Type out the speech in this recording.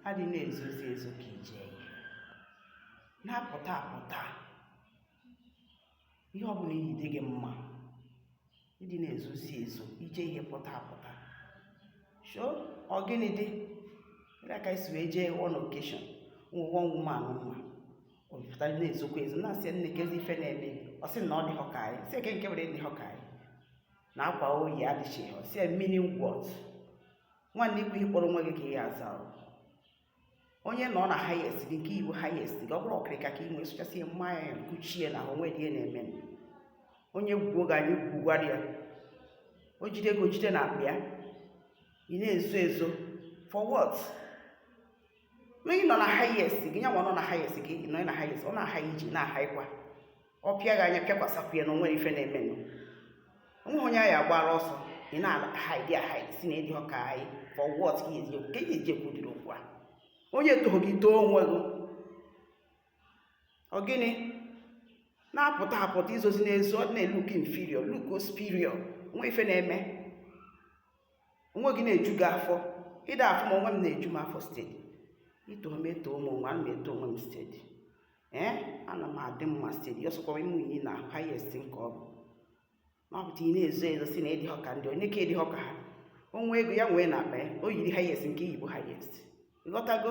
adị na-ezozi ezo ka i je ihe na-apụta apụta ihe ọ bụla i yi dị gị mma ịdị na-ezozi ezo i je ihe pụta apụta show ọ gịnị dị ya ka e si wee jee one occasion nwa woman m ma ọ pụta na-ezokwa ezo na-asị nne kezi ife na-eme ọ sị na ọ dịghọ ka anyị sị ya kee nke were dịghọ ka anyị na akwa o yi adịchighị ọ sị ya mmiri ngwọt nwanne ikwu ihe ị kpọrọ onwe gị ka ị ya-aza onye nọ na highest gị nke i yi wu highest gị ọ bụrụ okirika ka ị nwee sụchasị ihe mmanya ya kuchie na o nwedị ihe na-eme onye gwuo gị anya ị gwugwara ya o jide ego o jide na akpa ya ị na-ezo ezo for what onye nọ na highest gị nyanwa nọ na highest gị nọ na highest ọ na-aha iji na-aha ịkwa ọ pịa gị anya pịakwasakwu ya na o nwere ife na-emenụ o nweghị onye a ya-agbara ọsọ ị na-ahide ahide sị na ị dịghọ ka anyị for what ka iji ka iji eji ekwudiri okwu a onye tohọ gị too onwe gị ọ gịnị na-apụta apụta ezozina ezo na-elook inferior look superior o nwe ife na-eme onwe gị na-eju gị afọ ịda afọ ma onwe m na-eju m afọ steady i too m etoo m onwe a m eto onwe m steady ee eh, ana m adị mma steady ọ sọkwa ime unyi na highest nke ọ bụ na ọ pụta ị na-ezo ezo sị na ị dịghọ ka ndị onye ka ị dịghọ ka ha o nwee ego ya nwee na akpa ya o yiri highest nke i yi bụ highest ị ghọtago